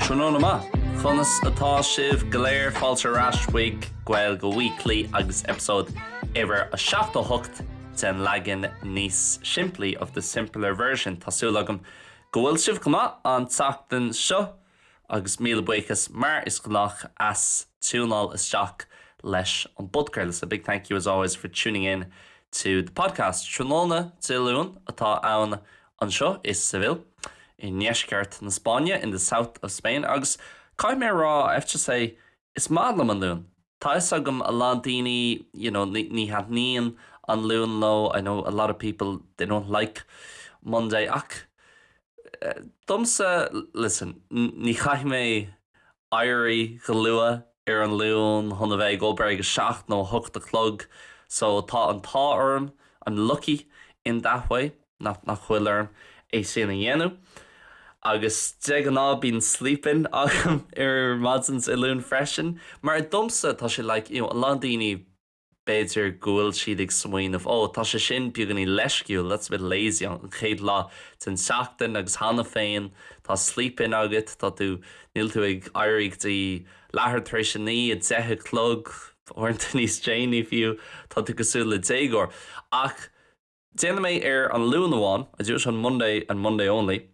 Tráthnóna maith! Conas atá sibh go léir? Fáilte ar ais chuig Gaeilge Weekly agus eipeasóid uimhir 78 den leagan níos simplí of the simpler version. Tá súil agam go bhfuil sibh go maith an tseachtain seo. Agus míle buíochas, mar is gnách, as tiúnáil isteach leis an bpodcraoladh. A big thank you as always for tuning in to the podcast. Tráthnóna Dé Luain atá ann anseo i Seville, i ndeisceart na Spáinne, in the south of Spain, agus caithfidh mé a rá, I have to say, is maith liom an Luan. Tá a fhios agam a lán daoine you know ní thaitníonn an Luan leo I know a lot of people they don't like Monday ach domsa listen ní chaithfidh mé éirí go luath ar an Luan chun a bheith ag obair ag a seacht nó a hocht a chlog so tá an t-ádh orm I'm lucky in that way. nach bhfuil orm é sin a dhéanamh agus de ghnáth bíonn sleep in agam ar maidin ar an Luan freisin mar domsa tá sé like you know a lán daoine b'fhéidir go bhfuil siad ag smaoineamh oh tá sé sin beagáinín leisciúil that's a bit lazy an chéad lá den tseachtain agus cheana féin tá sleep in agat tá tú níl tú ag éirí go dtí leathuair tar éis a naoi a deich a chlog uaireanta níos déanaí fiú tá tú cosúil le déagóir ach Déanaim é ar an Luan amháin, I do it on Monday and Monday only,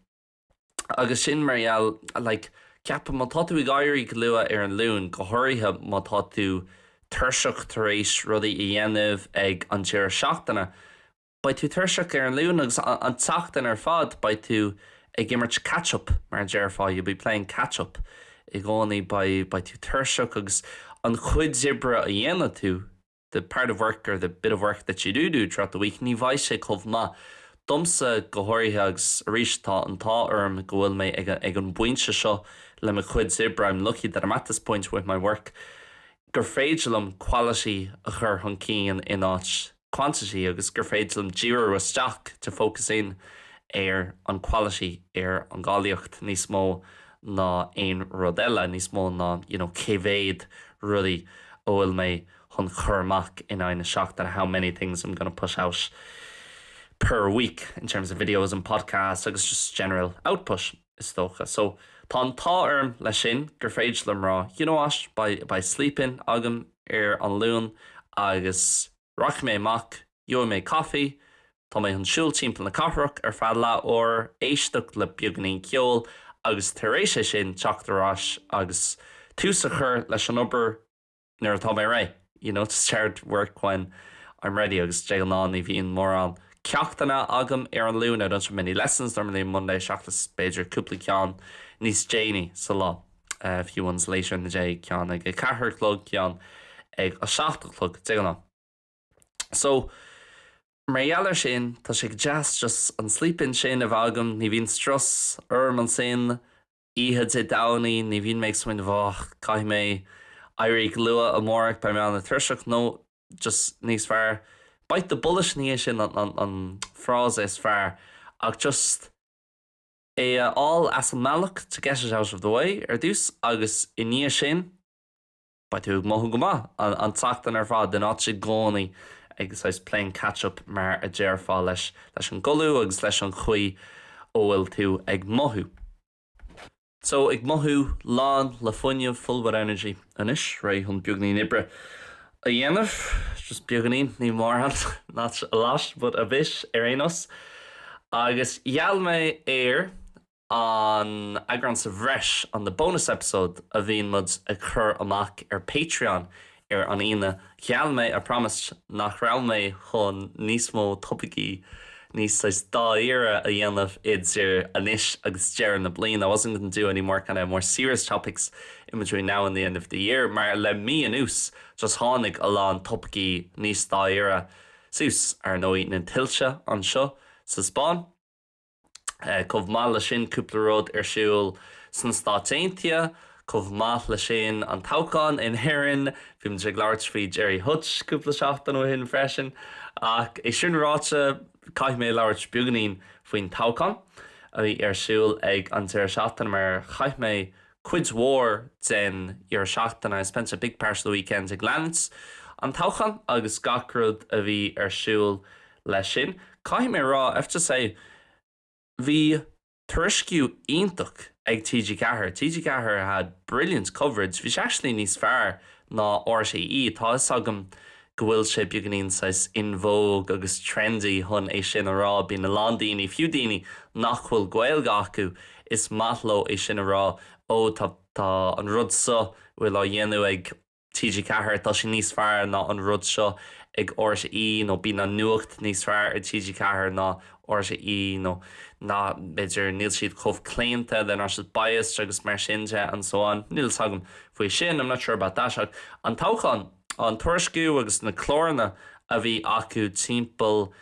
agus sin mar gheall, like, ceapaim má tá tú ag éirí go luath ar an Luan, go háirithe má tá tú tuirseach tar éis rudaí a dhéanamh ag an deireadh seachtaine, beidh tú tuirseach ar an Luan agus an tseachtain ar fad beidh tú ag imirt catch up mar a déarfá, you'll be playing catch up, i gcónaí beidh, beidh tú tuirseach agus an chuid oibre a dhéanfaidh tú, the part of work or the bit of work that you do do throughout the week ní bheidh sé chomh maith, domsa go háirithe agus arís tá an t-ádh orm go bhfuil mé ag ag an bpointe seo le mo chuid oibre I'm lucky that I'm at this point with my work gur féidir liom quality a chur chun cinn in áit quantity agus gur féidir liom díriú isteach to focus in ar an quality, ar an gcáilíocht, níos mó ná aon rud eile, níos mó ná, you know, cé mhéad rudaí a bhfuil mé chun cur amach in aghaidh na seachtaine, how many things I'm going to push out per week in terms of videos and podcasts agus just general output, is dócha. So tá an t-ádh orm leis sin gur féidir liom rá, you know what, beidh sleep in agam ar an Luan agus Rachaidh mé amach, gheobhaidh mé caife, tá mé chun siúl timpeall na cathrach ar feadh leath uair, éisteacht le beagáinín ceoil agus tar éis é sin teacht ar ais agus tús a chur leis an obair nuair atá mé réidh, you know, to start work when I'm ready agus de ghnáth ní bhíonn mórán ceachtanna agam ar an Luan, I don't have many lessons normally on Monday seachas b'fhéidir cúpla ceann níos déanaí sa lá. Few ones later in the day, ceann ag a ceathair a chlog, ceann ag a seacht a chlog, de ghnáth. So, mar gheall ar sin, tá sé go deas just an sleep-in sin a bheith agam, ní bhíonn strus orm ansin, oíche Dé Domhnaigh, ní bhíonn mé ag smaoineamh, oh, caithfidh mé éirí go luath amárach, beidh mé an-tuirseach, no, just níos fearr, bite the bullet ní é sin an frása is fearr ach just, é a fháil as an mbealach to get it out of the way ar dtús agus i ndiaidh sin beidh tú ag mothú go maith an tseachtain ar fad in áit i gcónaí ag saghas playing catch up mar a déarfá leis leis an gcodladh agus leis an chaoi a bhfuil tú ag mothú so ag mothú lán le fuinneamh full with energy anois réidh chun beagáinín oibre a dhéanamh, just beagáinín, ní mórán, not a lot, but a bit ar aon nós. Agus gheall mé ar an eagrán sa bhreis, on the bonus episode, a bhíonn muid ag cur amach ar Patreon ar an Aoine, gheall mé, I promised, nach raibh mé chun níos mó topaicí, níos dáiríre a dhéanamh idir anois agus deireadh na bliana I wasn't going to do any more kind of more serious topics in between now and the end of the year mar le mí anuas just tháinig a lán topaicí níos dáiríre suas, ar ndóigh na tuilte anseo sa Spáinn. Chomh maith leis sin cúpla rud ar siúl sna Stáit Aontaithe. Chomh maith leis sin, an toghchán in Éirinn, bhí muid ag labhairt faoi Gerry Hutch cúpla seachtain ó shin freisin, ach é sin ráite, caithfidh mé labhairt beagáinín faoin toghchán a bhí ar siúl ag an deireadh seachtaine mar chaith mé cuid mhór den deireadh seachtaine, I spent a big part of the weekend, ag leanacht an toghcháin agus gach rud a bhí ar siúl leis sin. Caithfidh mé a rá, I have to say, bhí. tuairisciú iontach ag TG4. TG4 had brilliant coverage, bhí sé actually níos fearr ná RTÉ, tá 'fhios agam go bhfuil sé beagáinín saghas in vogue agus trendy chun é sin a rá, bíonn a lán daoine, fiú daoine nach bhfuil Gaeilge acu, is maith leo é sin a rá, oh tá, tá an rud seo a bhfuil á dhéanamh ag. TG4, Tá sé níos fearr ná an rud seo ag RTÉ nó bíonn an nuacht níos fearr ar TG4 ná RTÉ nó ná, b'fhéidir, níl siad chomh claonta, they're not as biased agus mar sin de and so on. Níl 'fhios agam faoi sin, I'm not sure about that ach an toghchán, an tuairisciú agus na cláranna a bhí acu timpeall,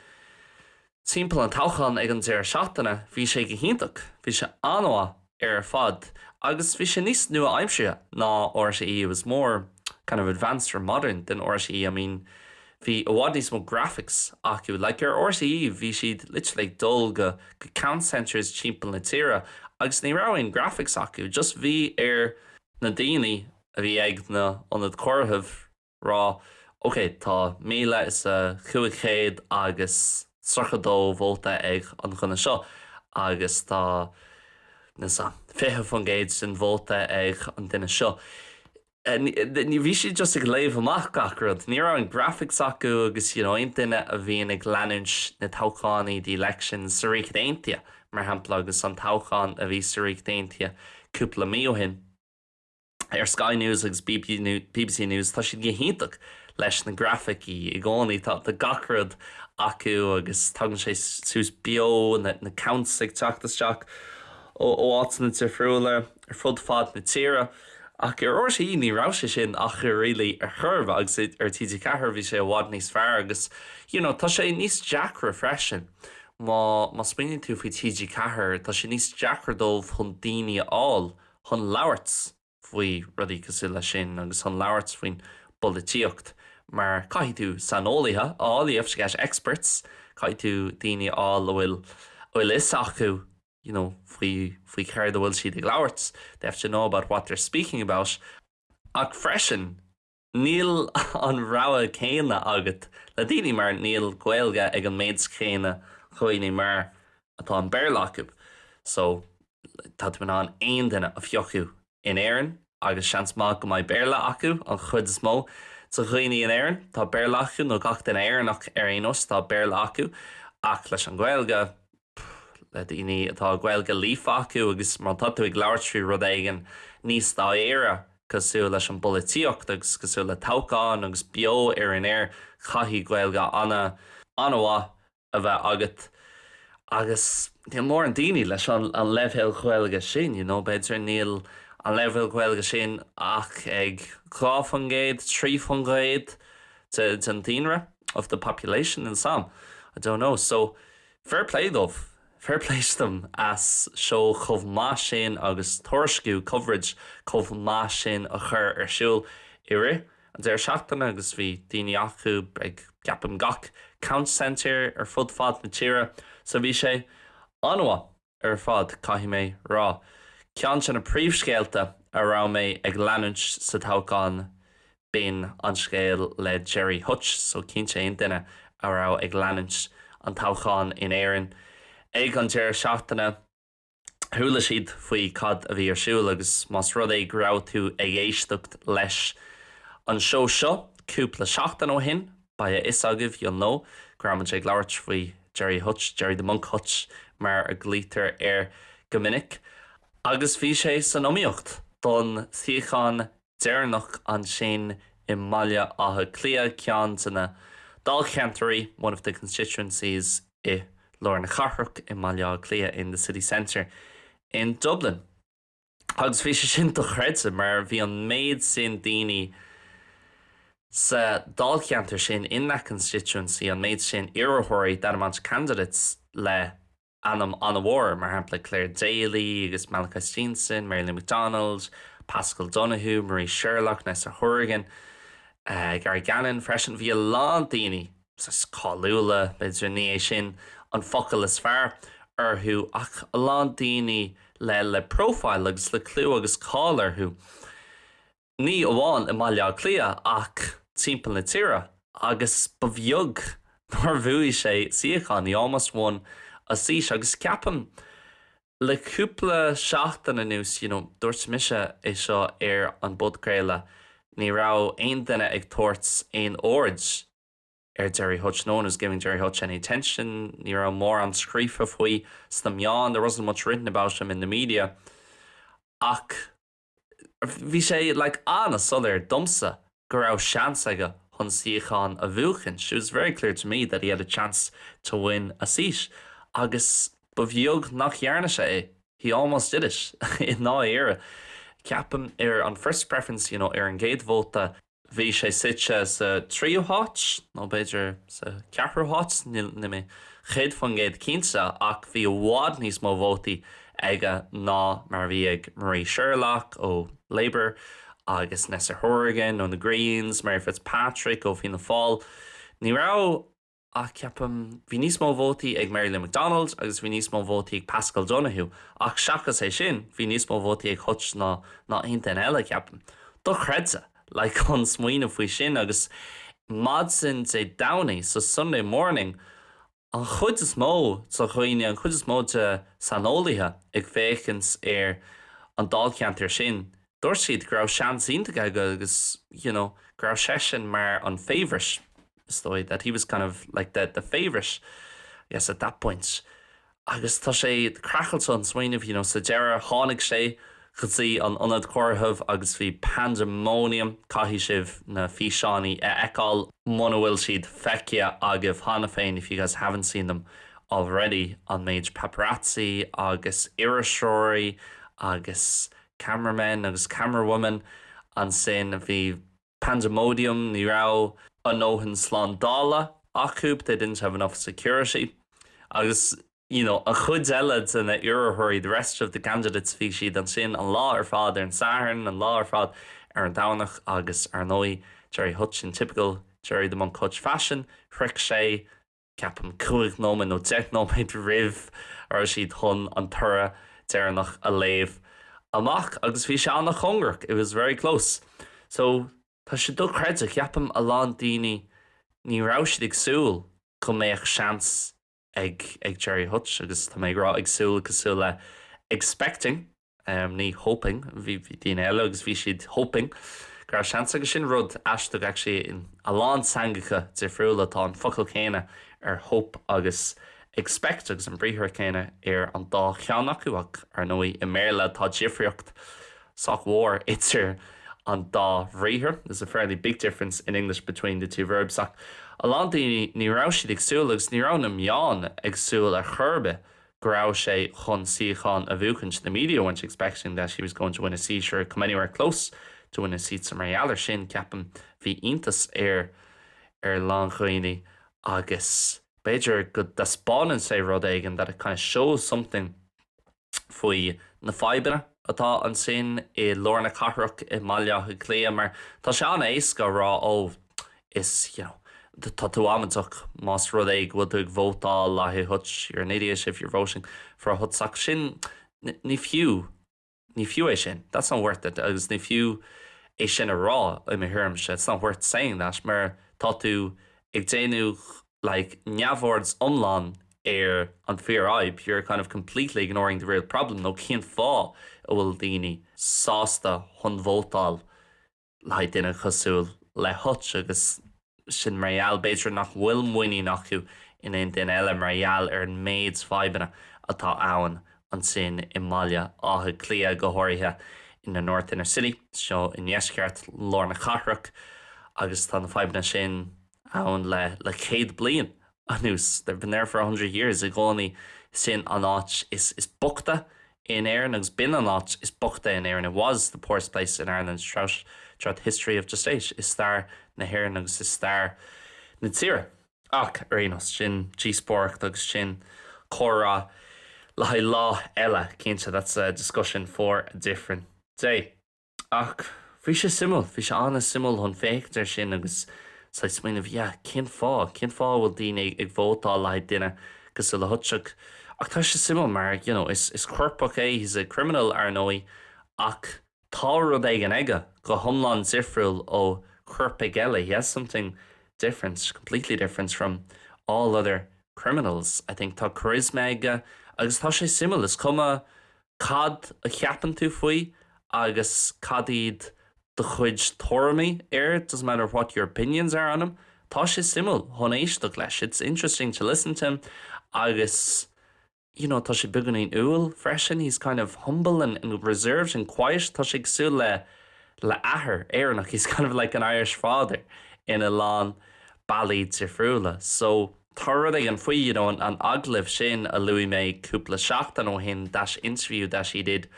Timpeall an toghcháin ag an deireadh seachtaine bhí sé go hiontach, bhí sé an-mhaith ar fad agus bhí sé níos nua-aimseartha ná RTÉ, it was more kind of advanced or modern than RTÉ, I mean bhí i bhfad níos mó graphics acu, like ar RTÉ bhí siad literally ag dul go count centres timpeall na tíre agus ní raibh aon graphics acu, just bhí ar na daoine a bhí ag na ionaid comhairimh. rá, OK, tá míle is a cúig chéad agus tríocha dó vóta ag an dhuine seo agus tá, you know, fiche faoin gcéad den vóta ag an duine seo. Ní, bhí siad just ag léamh amach gach rud. Ní raibh aon graphics acu agus you know aon duine a bhíonn ag leanúint na toghchánaí, the elections, sa Ríocht Aontaithe, mar shampla, agus an toghchán a bhí sa Ríocht Aontaithe cúpla mí ó shin, ar Sky News agus BBC News, tá siad go hiontach leis na grafaicí i gcónaí, tá gach rud acu agus tagann sé suas beo, na counts ag teacht isteach ó áiteanna difriúla ar fud fad na tíre ach ar RTÉ ní raibh sé sin acu really ar chor ar bith agus ar TG4 bhí sé i bhfad níos fearr agus you know tá sé níos deacra freisin má smaoiníonn tú faoi TG4 tá sé níos deacra dóibh chun daoine a fháil chun labhairt faoi rudaí cosúil leis sin agus chun labhairt faoin bpolaitíocht mar caithfidh tú saineolaithe a fháil, you have to get experts, caithfidh tú daoine a fháil a bhfuil a bhfuil 'fhios acu you know faoi faoi céard a bhfuil siad ag labhairt, they have to know about what they're speaking about ach freisin, Níl an rogha céanna agat le daoine mar níl Gaeilge ag an méid chéanna dhaoine mar atá an Béarla acu so tá tú in ann aon duine a phiocadh in Éirinn agus seans maith go mbeidh Béarla acu. An chuid is mó de dhaoine in Éirinn, tá Béarla acu nó gach duine Éireannach ar aon nós, tá Béarla acu ach leis an Ghaeilge, le daoine atá Gaeilge líofa acu agus má tá tú ag labhairt faoi rud éigin níos dáiríre cosúil leis an bpolaitíocht agus cosúil le toghcháin agus beo ar an aer caithfidh Gaeilge an-mhaith a bheith agat agus níl mórán daoine leis an leibhéal Gaeilge sin, you know, b'fhéidir níl an leibhéal Gaeilge sin ach ag dhá faoin gcéad, trí faoin gcéad den daonra, of the population níl 'fhios agam, I don't know, so. Fair play dóibh. Fair play to them as seó chomh maith sin agus tuairisciú, coverage, chomh maith sin a chur ar siúl i rith an deireadh seachtaine agus bhí daoine acu ag, ceapaim, gach County Centre ar fud fad na tíre so bhí sé an-mhaith. ar fad, caithfidh mé rá. Ceann de na príomhscéalta a raibh mé ag leanúint sa toghchán, b'in an scéal le Gerry Hutch, so cinnte aon duine a raibh ag leanúint an toghcháin in Éirinn ag an deireadh seachtaine, chuala siad faoi cad a bhí ar siúl agus más rud é go raibh tú ag éisteacht leis an seó seo cúpla seachtain ó shin, Beidh a fhios agaibh, you'll know, go raibh muid ag labhairt faoi Gerry Hutch, Gerry the Monk Hutch mar a ghlaoitear air go minic, agus bhí sé san iomaíocht don suíochán deireanach ansin i mBaile Átha Cliath, ceann de na dáilcheantairí, one of the constituencies, i lár na cathrach i mBaile Átha Cliath, in the city centre in Dublin. agus bhí sé sin dochreidte mar bhí an méid sin daoine sa dáilcheantar sin in that constituency, an méid sin iarrthóirí that amount of candidates le ainm an-mhór, mar shampla Clare Daly agus Malachi Steenson, Mary Lou McDonald, Paschal Donohoe, Marie Sherlock, Neasa Hourigan, Gary Gannon freisin. Bhí a lán daoine cáiliúla, b'fhéidir, ní é sin an focal is fearr, orthu ach a lán daoine le le profile agus le clú agus cáil orthu, ní amháin i mBaile Átha Cliath ach timpeall na tíre, agus ba bheag nár bhuaigh sé suíochán, he almost won a seat, agus ceapaim Le cúpla seachtain anuas, you know, dúirt mise é seo ar an bpodchraoladh, ní raibh aon duine ag tabhairt aon aird ar Gerry Hutch, no one was giving Gerry Hutch any attention, ní raibh mórán scríofa faoi sna meáin, there wasn't much written about him in the media, ach. Bhí sé like an-soiléir domsa go raibh seans aige chun suíochán a bhuachaint, it was very clear to me that he had a chance to win a seat agus ba bheag nach dhearna sé é, he almost did it i ndáiríre. Ceapaim ar an first preference, you know, ar an gcéad vóta, Bhí sé suite sa tríú háit, nó b'fhéidir sa cheathrú háit, níl mé céad faoin gcéad cinnte, ach bhí i bhfad níos mó vótaí aige ná mar a bhí ag Marie Sherlock ó Labour agus Neasa Hourigan ó na Greens, Mary Fitzpatrick ó Fianna Fáil. Ní raibh. ach ceapaim, bhí níos mó vótaí ag Mary Lou McDonald agus bhí níos mó vótaí ag Paschal Donohoe ach seachas é sin, bhí níos mó vótaí ag Hutch ná aon duine eile, ceapaim. Dochreidte! Like, chun smaoineamh faoi sin agus maidin Dé Domhnaigh, so Sunday morning, an chuid is mó de dhaoine, an chuid is mó de saineolaithe ag féachaint ar an Dáilcheantar sin, dúirt siad go raibh seans iontach aige agus you know go raibh seisean mar an favourite is dóigh that he was kind of like the, the favourite I guess at that point agus tá sé craiceáilte chun smaoineamh you know sa deireadh tháinig sé go dtí an ionad comhairimh agus bhí pandemonium caithfidh sibh na físeáiní a fheiceáil muna bhfuil siad feicthe agaibh cheana féin if you guys haven't seen them already an méid paparazzi agus iriseoirí agus camera men agus camera women ansin bhí pandemonium, ní raibh a ndóthain slándála acu, they didn't have enough security, agus you know an chuid eile de na iarrthóirí, the rest of the candidates, bhí siad ansin an lá ar fad ar an Satharn, an lá ar fad ar an Domhnach agus ar ndóigh Gerry Hutch in typical Gerry the Monk Hutch fashion shroich sé ceapaim, cúig nóiméad nó deich nóiméad roimh a raibh siad chun an toradh deireanach a léamh amach agus bhí sé an-chóngarach, it was very close. So tá sé dochreidte, ceapaim a lán daoine, ní raibh siad ag súil go mbeadh seans ag Gerry Hutch agus tá mé ag rá ag súil cosúil le expecting. ní hoping, bhí daoine eile agus bhí siad hoping go raibh seans aige, sin rud aisteach actually in a lán teangacha difriúla tá an focal céanna ar hope agus expect agus an briathar céanna ar an dá cheann acu ach ar ndóigh i mBéarla tá difríocht sách mhór idir an dá bhriathar there's a fairly big difference in English between the two verbs ach a lán daoine ní raibh siad ag súil agus ní raibh na meáin ag súil ar chor ar bith go raibh sé chun suíochán a bhuachaint, the media weren't expecting that he was going to win a seat or come anywhere close to win a seat so mar gheall air sin, ceapaim, bhí iontas ar a lán daoine agus b'fhéidir go dtaispeánann sé rud éigin that it kind of shows something faoi na fadhbanna atá ansin i lár na cathrach i mBaile Átha Cliath mar tá sé an-éasca a rá oh, is, you know, tá tú amaideach más rud é go bhfuil tú ag vótáil le haghaidh Hutch, you're an idiot if you're voting for Hutch ach sin, ní fiú, ní fiú é sin, that's not worth it agus ní fiú é sin a rá i mo thuairimse, it's not worth saying that mar tá tú ag déanamh like neamhaird iomlán ar an fíorfhadhb, you're kind of completely ignoring the real problem nó cén fáth a bhfuil daoine sásta chun vótáil le haghaidh duine cosúil le Hutch agus sin mar gheall, b'fhéidir, nach bhfuil muinín acu in aon duine eile mar gheall ar an méid fadhbanna atá ann ansin i mBaile Átha Cliath, go háirithe in the North Inner City, seo i ndeisceart lár na cathrach agus tá na fadhbanna sin ann le céad bliain anuas, they've been there for a hundred years, i gcónaí sin an áit is boichte in Éirinn agus b'in an áit is boichte in Éirinn, it was the poorest place in Ireland throughout, throughout the history of the state, is stair na hÉireann agus i stair na tíre. Ach, ar aon nós, sin díospóireacht agus sin comhrá le haghaidh lá eile, cinnte, that's a discussion for a different day. Ach bhí sé suimiúil, bhí sé an-suimiúil chun féachaint air sin agus saghas smaoineamh, yeah, cén fáth, cén fáth a bhfuil daoine ag vótáil le haghaidh duine cosúil le Hutch? Ach tá sé suimiúil mar, you know, is, is coirpeach é, he's a criminal, ar ndóigh, ach tá rud éigin aige go hiomlán difriúil ó choirpigh eile, he has something different, completely different from all other criminals, I think. Tá charisma aige agus tá sé suimiúil, is cuma, Cad a cheapann tú faoi agus cad iad do chuid tuairimí air? It doesn't matter what your opinions are on him, Tá sé suimiúil chun éisteacht leis, It's interesting to listen to him, agus, you know, tá sé beagáinín umhal freisin, He's kind of humble and reserved and quiet, Tá sé cosúil le, le athair Éireannach, He's kind of like an Irish father ina lán bealaí difriúla. So. tá rud éigin faoi you know an agallamh sin a luaigh mé cúpla seachtain ó shin that interview that he did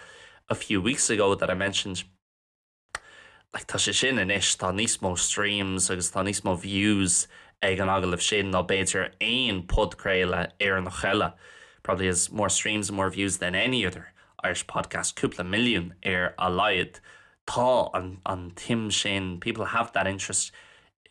a few weeks ago that I mentioned like tá sé sin anois tá níos mó streams agus tá níos mó views ag an agallamh sin ná b'fhéidir aon podchraoladh Éireannach eile probably has more streams and more views than any other Irish podcast cúpla milliún ar a laghad tá an an tsuim sin people have that interest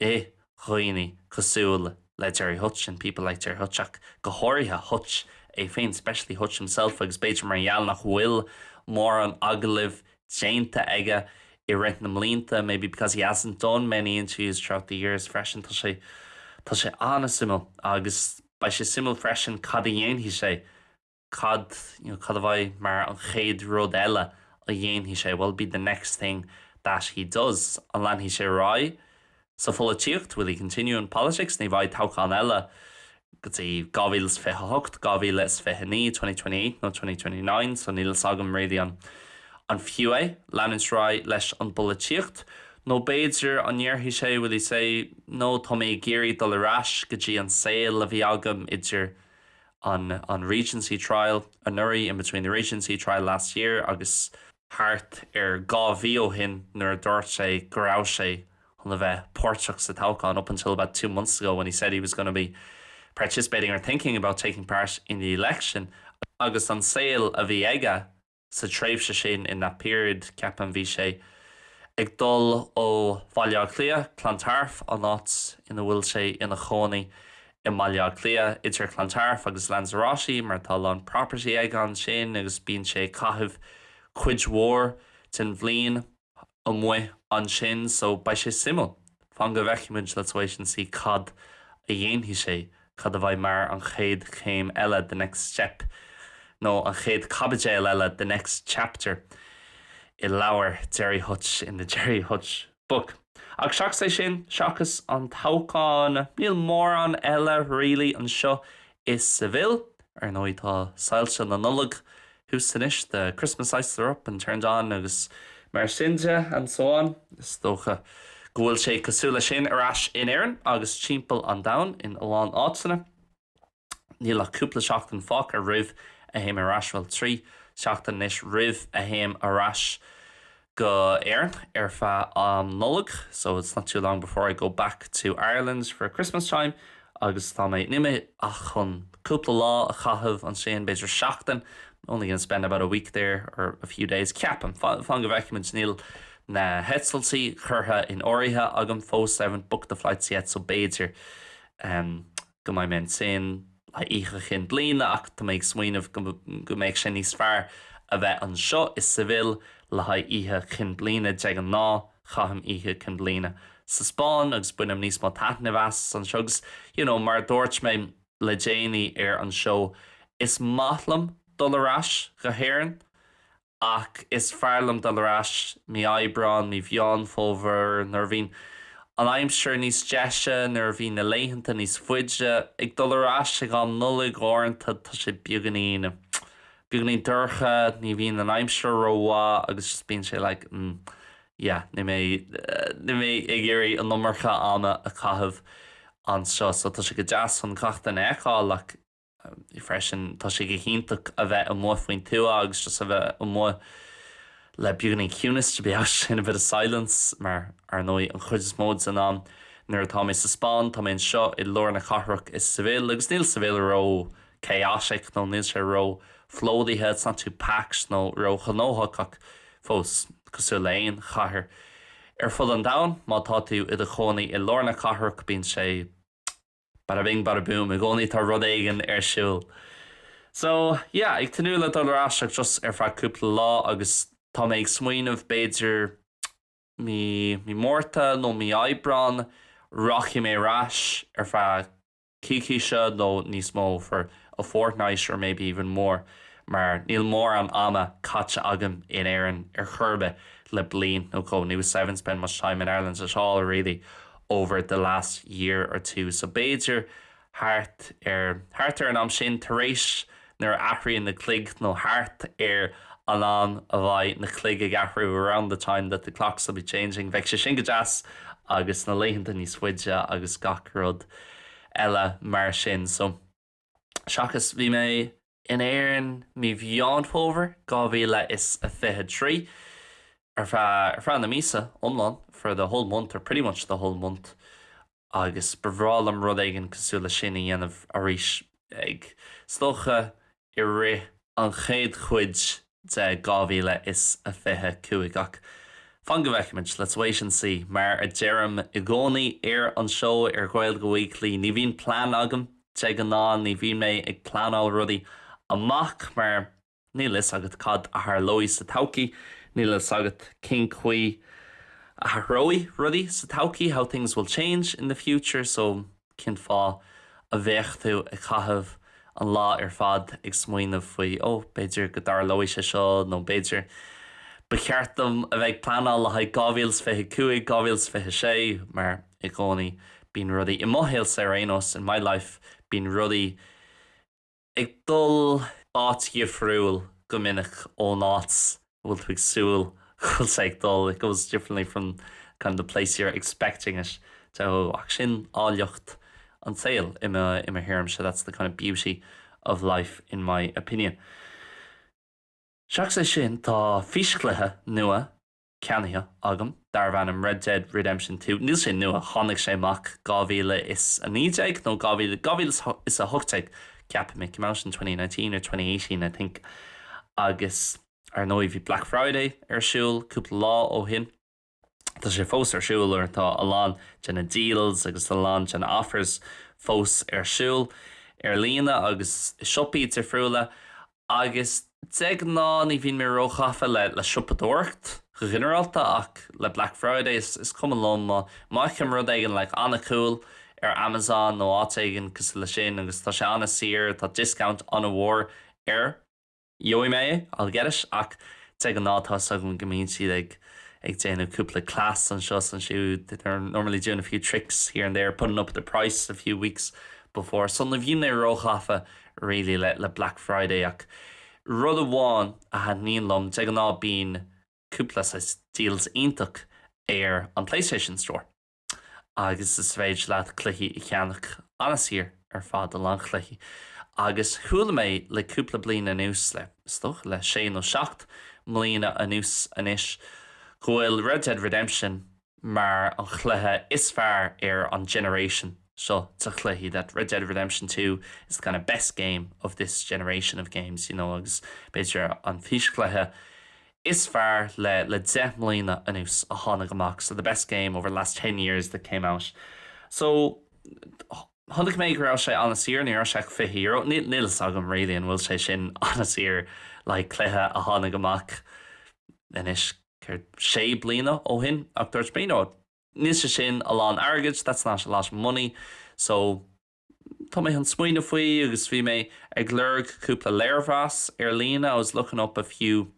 i dhaoine cosúil le Gerry Hutch in people like Gerry Hutch ach go háirithe Hutch é féin especially Hutch himself agus b'fhéidir mar gheall nach bhfuil mórán agallaimh déanta aige i rith na mblianta maybe because he hasn't done many interviews throughout the years freisin tá sé tá sé an-suimiúil agus beidh sé suimiúil freisin cad a dhéanfaidh sé cad, you know, cad a bheidh mar an chéad rud eile a dhéanfaidh sé, what will be the next thing that he does? An leanfaidh sé ar aghaidh sa pholaitíocht, will he continue in politics? Ní bheidh toghchán eile go dtí 2028, 2029, twenty twenty eight nó twenty twenty nine, so níl fhios agam really an an fiú é leanúint ar aghaidh leis an bpolaitíocht nó b'fhéidir an ndéarfaidh sé, will he say, no, tá mé ag iarraidh dul ar ais go dtí an saol a bhí agam idir idir an Regency Trial anuraidh, in between the Regency Trial last year agus thart ar dhá mhí ó shin nuair a dúirt sé go raibh sé chun a bheith páirteach sa toghchán up until about two months ago when he said he was going to be participating or thinking about taking part in the election agus an saol a bhí aige sa tréimhse sin, in that period, ceapaim, bhí sé ag dul ó Bhaile Átha Cliath, Clontarf, an áit ina bhfuil sé ina chónaí i mBaile Átha Cliath, idir Clontarf agus Lanzarote mar tá a lán property aige ansin agus bíonn sé ag caitheamh cuid mhór den bhliain. amuigh ansin so beidh sé suimiúil. Fan go bhfeicfimid, let's wait and see cad a dhéanfaidh sé, cad a bheidh mar an chéad chéim eile, the next step, nó an chéad caibidéal eile, the next chapter, i leabhar Gerry Hutch, in the Gerry Hutch book. Ach seachas é sin, seachas an toghchán, níl mórán eile really anseo i Seville, ar ndóigh, tá soilse na Nollag thuas anois, the Christmas lights are up and turned on agus mar sin de and so on. Is dócha go bhfuil sé cosúil leis sin ar ais in Éirinn agus timpeall an domhain in a lán áiteanna. Níl ach cúpla seachtain fágtha roimh a théim ar ais, bhuel, trí sheachtain anois roimh a théim ar ais. go hÉirinn ar feadh an Nollaig so it's not too long before I go back to Ireland for Christmas time agus tá mé ag imeacht chun cúpla lá a chaitheamh ansin, b'fhéidir seachtain only going to spend about a week there or a few days ceapaim, fan go bhfeicfimid níl na heitiltí curtha in áirithe agam fós I haven't booked the flights yet so b'fhéidir. go mbeidh mé ansin le haghaidh Oíche Chinn Bliana ach tá mé ag smaoineamh go mbeidh sé níos fearr a bheith anseo i Seville le haghaidh Oíche Chinn Bliana. De ghnáth caithim Oíche Chinn Bliana sa Spáinn agus bainim níos mó taitnimh as anseo agus you know mar a dúirt mé le déanaí ar an seó is maith liom dul ar ais go hÉirinn ach is fearr liom dul ar ais mí Aibreáin, mí Mheán Fómhair, nuair a bhíonn an aimsir níos deise, nuair a bhíonn na laethanta níos faide. Ag dul ar ais ag an Nollaig, uaireanta tá sé beagáinín, beagáinín dorcha, ní bhíonn an aimsir rómhaith agus just bíonn sé like mm yeah, níl mé, níl mé ag iarraidh an iomarca ama a chaitheamh anseo. So tá sé go deas chun gach duine a fheiceáil like. freisin. Tá sé go hiontach a bheith amuigh faoin tuath agus just a bheith amuigh le beagáinín ciúnas, to be out in a bit of silence, mar ar ndóigh an chuid is mó den am nuair atá mé sa Spáinn tá mé anseo i lár na cathrach i Seville agus níl Seville ró chaotic nó níl sé ró phlódaithe, it's not too packed nó ró ghnóthach ach fós cosúil le aon chathair ar fud an domhain má tá tú i do chónaí i lár na cathrach bíonn sé Bada bing, bada boom, i gcónaí tá rud éigin ar siúl. So, yeah, ag tnúth le dul ar ais ach just ar feadh cúpla lá agus tá mé ag smaoineamh b'fhéidir mí, mí Márta nó mí Aibreán rachaidh mé ar ais ar feadh coícíse nó níos mó for a fortnight or maybe even more mar níl mórán ama caite agam in Éirinn ar chor ar bith le bliain nó dhó, haven't spent much time in Ireland at all really. over the last year or two so b'fhéidir thart ar, thart ar an am sin, tar éis, nuair a athraíonn na cloig nó thart ar an am a bheidh na cloig ag athrú around the time that the clocks will be changing beidh sé sin go deas agus na laethanta níos faide agus gach rud eile mar sin so. seachas bhí mé. in Éirinn mí Mheán Fómhair 2023 ar feadh ar feadh na míosa iomlán for the whole month or pretty much the whole month agus ba bhreá liom rud éigin cosúil leis sin a dhéanamh arís ag, is dócha i rith an chéad chuid de 2025 ach fan go bhfeicfimid, let's wait and see, mar a deirim i gcónaí ar an seó ar Ghaeilge Weekly, ní bhíonn plean agam de ghnáth, ní bhíonn mé ag pleanáil rudaí amach mar níl fhios agat cad a tharlóidh sa todhchaí, níl fhios agat cén chaoi a athróidh rudaí sa todhchaí, how things will change in the future, so. Cén fáth a bheadh tú ag caitheamh an lá ar fad ag smaoineamh faoi, ó, b'fhéidir go dtarlóidh sé seo nó b'fhéidir, ba cheart dom a bheith ag pleanáil le haghaidh 2025, 2026, mar i gcónaí bíonn rudaí, i mo shaolsa ar aon nós, in my life, bíonn rudaí. ag dul áit dhifriúil go minic ón áit a bhfuil tú ag súil go bhfuil sé ag dul, it goes differently from kind of the place you're expecting it to, ach sin áilleacht an tsaoil i mo thuairimse, that's the kind of beauty of life in my opinion. Seachas é sin, tá físchluiche nua. ceannaithe agam darbh ainm Red Dead Redemption Two. Níl sé nua, tháinig sé amach 2019 nó 2018 ceapaim, it came out in twenty nineteen or twenty eighteen I think agus ar ndóigh bhí Black Friday ar siúl cúpla lá ó shin, tá sé fós ar siúl or tá a lán de na deals agus a lán de na offers fós ar siúl ar líne agus i siopaí difriúla agus de ghnáth ní bhíonn mé róghafa le siopadóireacht go ginearálta ach le Black Friday is cuma liom má fheicim rud éigin like an-cool ar Amazon nó áit éigin cosúil leis sin agus tá sé an-saor, tá discount an-mhór air. gheobhaidh mé é, I'll get it ach de ghnáth tá 'fhios agam go mbíonn siad ag ag déanamh cúpla cleas anseo is ansiúd, they're normally doing a few tricks here and there, putting up the price a few weeks before so ní bhíonn mé róghafa really le Black Friday ach rud amháin a thaitníonn liom, de ghnáth bíonn cúpla saghas deals iontach ar an Playstation Store agus is féidir leat cluichí a cheannach an-saor ar fad, a lán cluichí agus chuala mé le cúpla bliain anuas, le, is dócha le sé nó seacht mbliana anuas anois, go bhfuil Red Dead Redemption mar an chluiche is fearr ar an generation seo de chluichí that Red Dead Redemption Two is the kind of best game of this generation of games you know agus b'fhéidir an físchluiche is fearr le le deich mbliana anuas a tháinig amach so the best game over the last ten years that came out so chonaic mé go raibh sé an-saor ní raibh sé ach fiche euro níl níl 'fhios agam really an bhfuil sé sin an-saor like cluiche a tháinig amach anois céard, sé bliana ó shin ach dúirt mé, no, níl sé sin a lán airgid, that's not a lot of money, so tá mé chun smaoineamh faoi agus bhí mé ag lorg cúpla léirmheas ar líne, I was looking up a few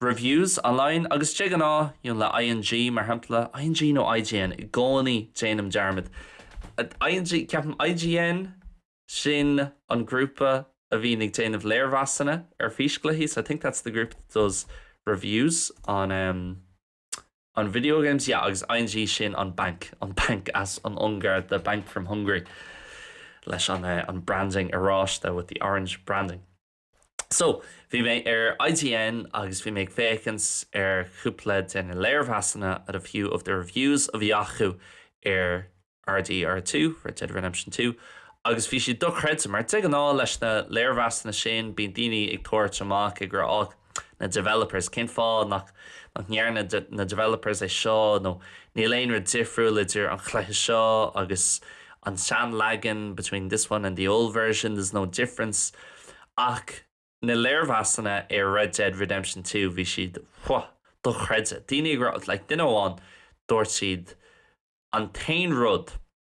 reviews online agus de ghnáth le ING mar shampla, ING nó IGN, i gcónaí déanaim dearmad, ING, ceapaim, IGN? Sin an grúpa a bhíonn ag déanamh léirmheasanna ar físchluichí, so I think that's the group that does reviews on em on video games, yeah agus ING sin an banc, an banc as an Ungáir, the bank from Hungary leis an eh an branding oráiste with the orange branding. So, bhí mé ar IGN agus bhí mé ag féachaint ar chúpla de na léirmheasanna at a few of the reviews a bhí acu ar RDR2, Red Dead Redemption 2, agus bhí siad dochreidte mar de ghnáth leis na léirmheasanna sin bíonn daoine ag tabhairt amach ag rá och, na developers, cén fáth nach nach ndearna na developers é seo nó níl aon rud difriúil idir an chluiche seo agus an seanleagan, between this one and the old version, there's no difference ach na léirmheasanna ar Red Dead Redemption Two, bhí siad whew, dochreidte. Daoine ag rá, like duine amháin, dúirt siad An t-aon rud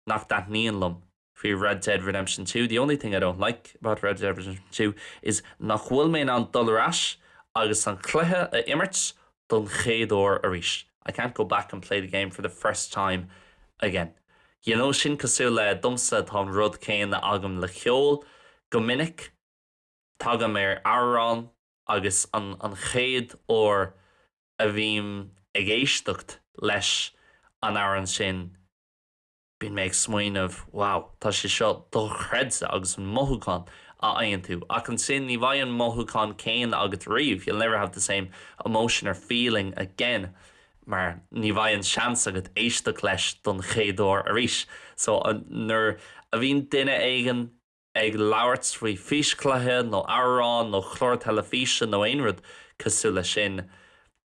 nach dtaitníonn liom faoi Red Dead Redemption Two, the only thing I don't like about Red Dead Redemption Two is nach bhfuil mé in ann dul ar ais agus an cluiche a imirt don chéad uair arís, I can't go back and play the game for the first time again. You know sin cosúil le, domsa tá an rud céanna agam le ceol, go minic tagaim ar amhrán agus an chéad uair a bhím ag éisteacht leis an amhrán sin, Bíonn mé ag smaoineamh, wow, tá sé seo dochreidte agus an mothúchán a fhaigheann tú ach ansin ní bheidh an mothúchán céanna agat riamh, you'll never have the same emotion or feeling again mar ní bheidh an seans agat éisteacht leis don chéad uair arís. So nuair a bhíonn duine éigin. ag labhairt faoi físchluiche nó amhrán nó clár teilifíse nó aon rud cosúil le sin,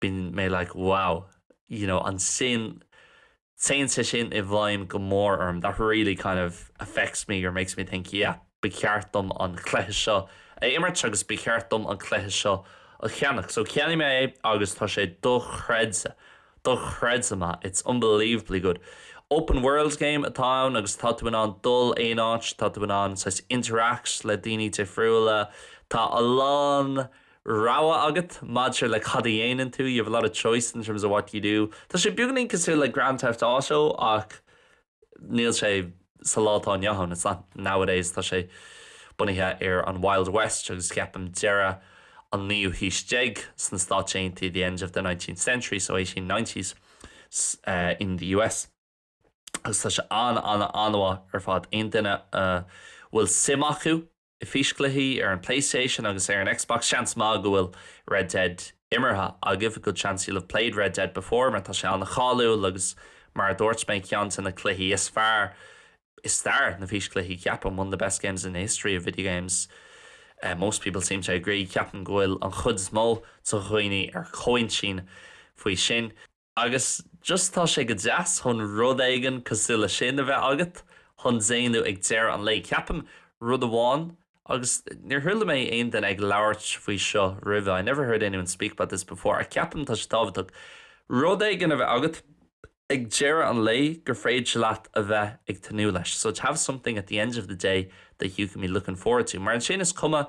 bíonn mé like wow, you know ansin téann sé sin i bhfeidhm go mór orm, that really kind of affects me or makes me think yeah, ba cheart dom an cluiche seo a imirt agus ba cheart dom an cluiche seo a cheannach. So cheannaigh mé é agus tá sé dochreidte. Dochreidte maith, it's unbelievably good. Open world game atá ann agus tá tú in ann dul aon áit, tá tú in ann saghas interact le daoine difriúla, tá a lán rogha agat maidir le cad a dhéanann tú, you have a lot of choice in terms of what you do. Tá sé beagáinín cosúil le Grand Theft Auto ach níl sé sa lá atá inniu ann, it's not nowadays, tá sé bunaithe ar an Wild West agus ceapaim deireadh an naoú haois déag sna Stáit Aontaithe the end of the nineteenth century, so eighteen nineties in the US agus tá sé an-an-anmhaith ar fad. Aon duine a bhfuil suim acu I bhfíschluichí ar an PlayStation agus ar an Xbox Seans maith go bhfuil Red Dead imeartha agaibh, a good chance you'll have played Red Dead before mar tá sé an-cháiliúil agus mar a dúirt mé ceann de na cluichí is fearr i stair na físchluichí ceapaim one of the best games in the history of video games most people seem to agree ceapaim go bhfuil an chuid is mó de dhaoine ar chomhintinn faoi sin. Agus just tá sé go deas chun rud éigin cosúil le sin a bheith agat chun déanamh ag deireadh an lae, ceapaim. Rud amháin, agus níor chuala mé aon duine ag labhairt faoi seo roimhe, I never heard anyone speak about this before, ach ceapaim tá sé tábhachtach rud éigin a bheith agat ag deireadh an lae gur féidir leat a bheith ag tnúth leis, so to have something at the end of the day that you can be looking forward to. Mar ansin is cuma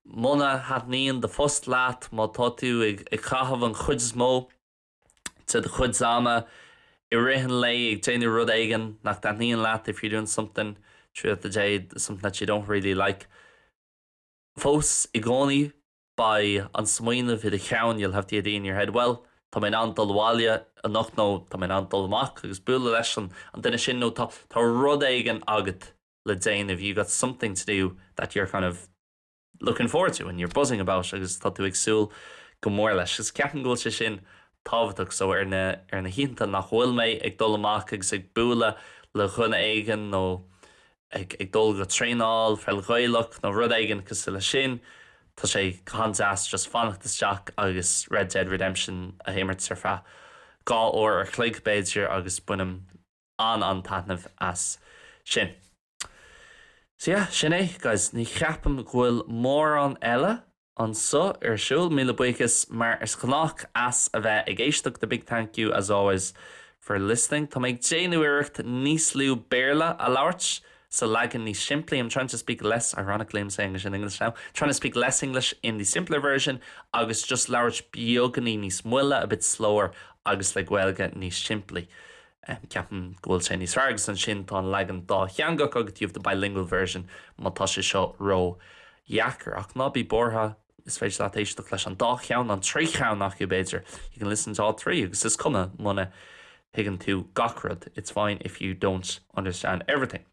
Muna thaitníonn do phost leat, má tá tú ag caitheamh an chuid is mó de do chuid ama i rith an lae ag déanamh rud éigin nach dtaitníonn leat, if you're doing something throughout the day, something that you don't really like, fós i gcónaí beidh an smaoineamh i do cheann, you'll have the idea in your head, bhuel, tá mé in ann dul abhaile anocht nó tá mé in ann dul amach agus bualadh leis an duine sin nó tá rud éigin agat. le déanamh, you've got something to do that you're kind of looking forward to and you're buzzing about agus tá tú ag súil go mór leis. Is ceapaim go bhfuil sé sin tábhachtach. So ar na, ar na hoícheanta nach bhfuil mé ag dul amach agus ag bualadh le dhuine éigin nó ag, ag dul go traenáil pheil Ghaelach nó rud éigin cosúil leis sin, tá sé go han-deas just fanacht isteach agus Red Dead Redemption a imirt ar feadh dhá uair a' chloig b'fhéidir agus bainim, an-an-taitneamh as sin. So yeah, sin é, guys. Ní cheapaim go bhfuil mórán eile anseo ar siúl. Míle buíochas, mar is gnách, as a bheith ag éisteacht, a big thank you, as always, for listening. Tá mé ag déanamh iarracht níos lú Béarla a labhairt sa leagan níos simplí, I'm trying to speak less, ironically I'm saying this in English now, trying to speak less English in the simpler version agus just labhairt beagainín níos moille, a bit slower, agus le Gaeilge níos simplí. Ceapaim go bhfuil sé níos fearr agus ansin tá an leagan dátheangach agat, you have the bilingual version, má tá sé seo ró dheacair. Ach ná bí buartha, is féidir leat éisteacht leis an dá cheann, an trí cheann acu b'fhéidir, you can listen to all three, agus is cuma muna thuigeann tú gach rud, it's fine if you don't understand everything.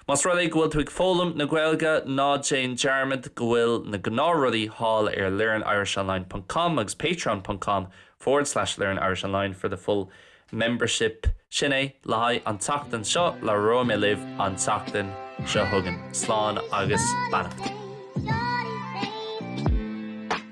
Más rud é go bhfuil tú ag foghlaim na Gaeilge, ná déan dearmad go bhfuil na gnáthrudaí thall ar learnirishonline ponc com agus patreon ponc com forward slash learnirishonline for the full membership Sin é le haghaidh an tseachtain seo, labhróidh mé libh an tseachtain seo chugainn. Slán agus beannacht.